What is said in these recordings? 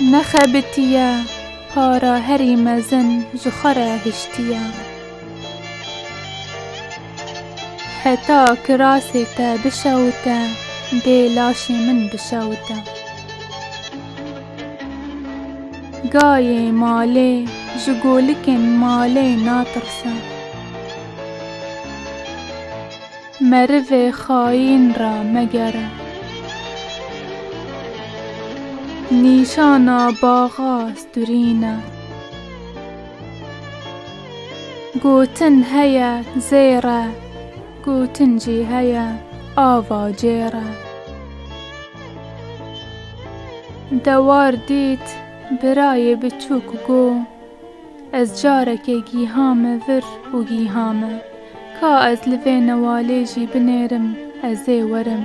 Nexebitiye para herî mezin ji xwe re hiştiye. Heta kirasê te bişewite dê laşê min bişewite. Gayê malê ji golikên malê natirse. Merivê xayîn ra megere. Nîşana baxa sturîn e. Gotin heye zêr e. Gotin jî heye ava cêr e. Dewar dît birayê biçûk go. Ez carekê gîhame vir û gîhame. Ka ez li vê newalê jî binêrim ez ê werim.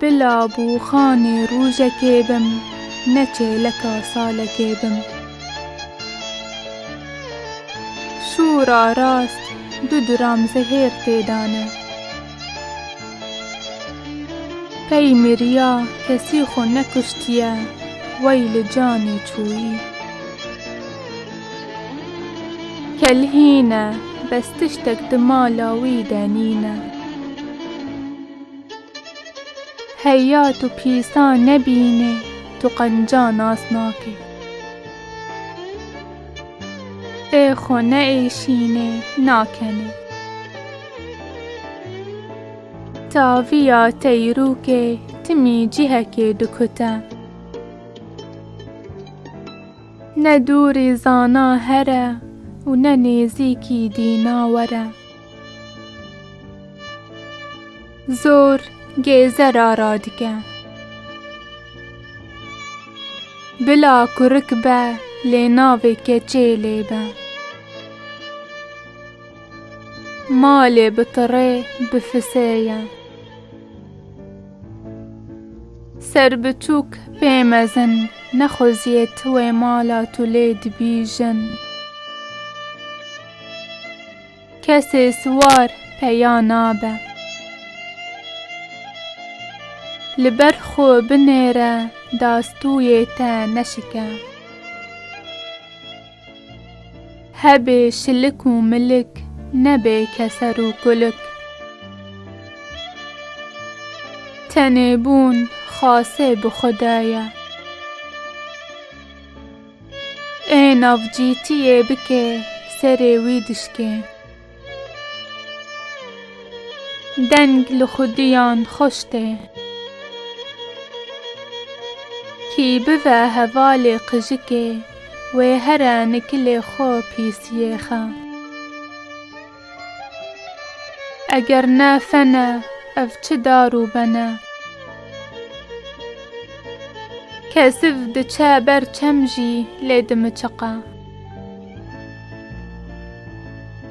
Bila bûxanê rûjekê bim ne çêleka salekê bim. Şûra rast du duram zehêr tê dane. Pey miriya kesî xwe nekuştiye wey li canê çûyî. Kel hîn e, bes tiştek di mala wî de nîn e. Heya tu pîsan nebînê, tu qenca nas nakê. Ê xwe neêşînê, nakenê. Taviya teyrûkê timî cihekê dikute. Ne dûrî zana here û ne nêzîkî dîna were. Zor gêze ra ra dike. Bila kurik be lê navê keçê lê be. Malê bi tirê bi fisê ye. Ser bi tûk pê mezin. Nexweziyê tu wê mala tu lê dibîjin. Kesê siwar peya nabe. Li ber xwe binêre dastûyê te neşike. Hebê şilik û milik, nebê keser û kulik. Tenê bûn xase bi xwe de ye. Ê navcîtiyê bike serê wî dişkên. Deng li xwediyan xweş tê. Kî bive hevalê qijikê wê here nikilê xwe pîsiyê xe. Eger ne fen e ev çi dar û ben e. Kesiv diçe ber çem jî lê dimiçiqe.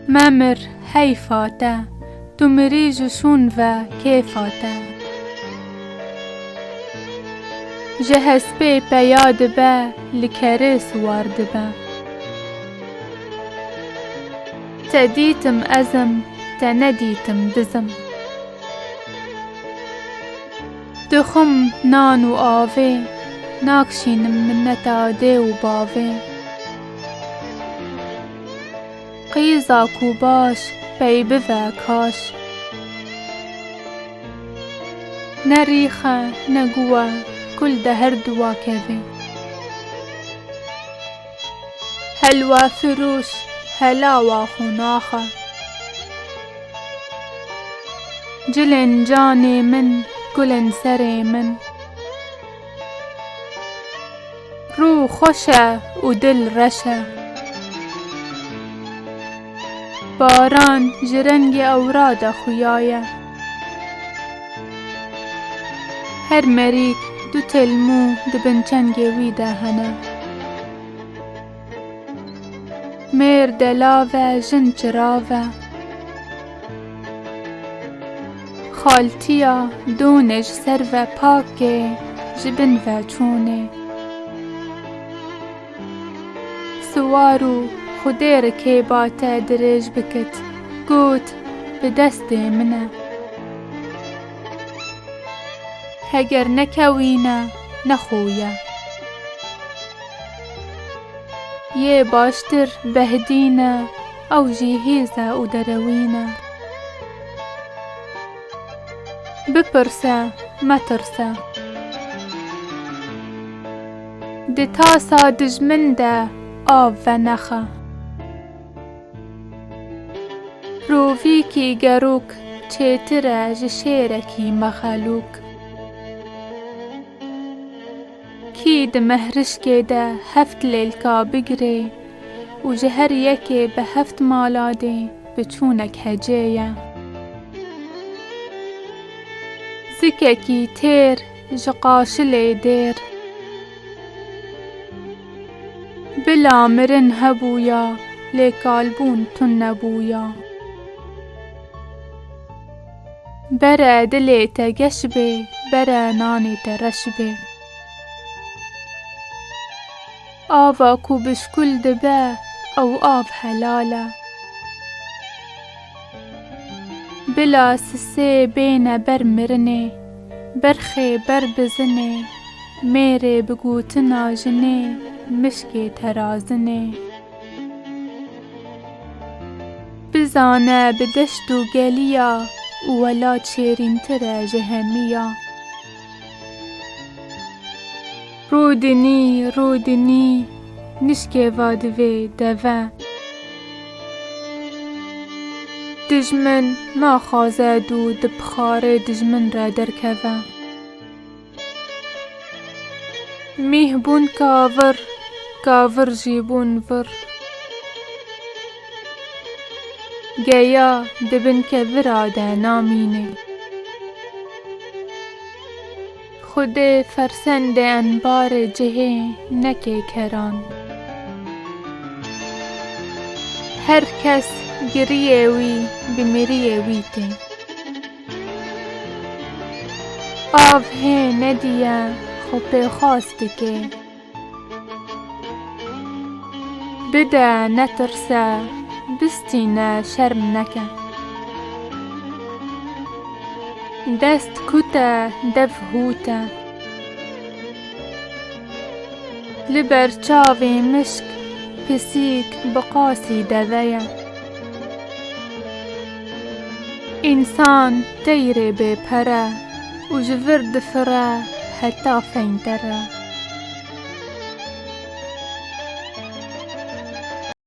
Memir heyfa te, tu mirî ji şûn ve kêfa te. Ji hespê peya dibe, li kerê siwar dibe. Te dîtim ez im, te nedîtim biz im. Dixwim nan û avê, nakşînim minneta dê û bavê. Qîza ku baş pey bive kaş. Ne rîx e ne guh e kul de her du vakevê. Helwa firûş helawa qonax e. Cilên canê min gulên serê min. Rû xweş e û dil reş e. Baran ji rengê ewra de xuya ye. Her merîg du têl mû di bin çengê wî de hene. Mêrd e lav e jin çirav e. Xaltiya donê ji ser ve pak ê ji bin ve çûnê. Siwar û xwedê rikêba te dirêj bikit got bi destê min e. Heger nekewîne ne xwe ye. Yê baştir behdîn e, ew jî hêz e û derewîn e. Bipirse, metirse. Di tasa dijmin de av venexe. Rovîkî gerûk çêtir e ji şêrekî mexelûk. Kî di mehrişkê de heft lêlka bigirê û ji her yekê bi heft maladê biçûnek hecê ye. Zikekî têr ji qaşilê dêr. Bila mirin hebûya lê kalbûn tun nebûya. Bere dilê te geş bê, bere nanê te reş bê. Ava ku bi şkul dibe, ew av helal e. Bila sisê bêne ber mirinê, berxê ber bizinê, mêrê bi gotina jinê, mişkê te razinê. Bizane bi deşt û geliya û wela çêrîntir e ji hemî ya. Rûdinî, rûdinî, nişkê va divê deve. Dijmin naxwaze dû di pixarê dijmin re derkeve. Mîh bûn kavir, kavir jî bûn vir. Geya di bin kevira de namîne. Xwedê fersendê enbarê cihê neke keran. Her kes giriyê wî bi miriyê wî tê. Av hê nedîye xwe pêxwas dike. Bide netirse bistîne şerm neke. Dest kût e dev hût e. Li ber çavê mişk pisîk bi qasî deve ye. Însan teyrê bêpere û ji vir difire heta feyndere.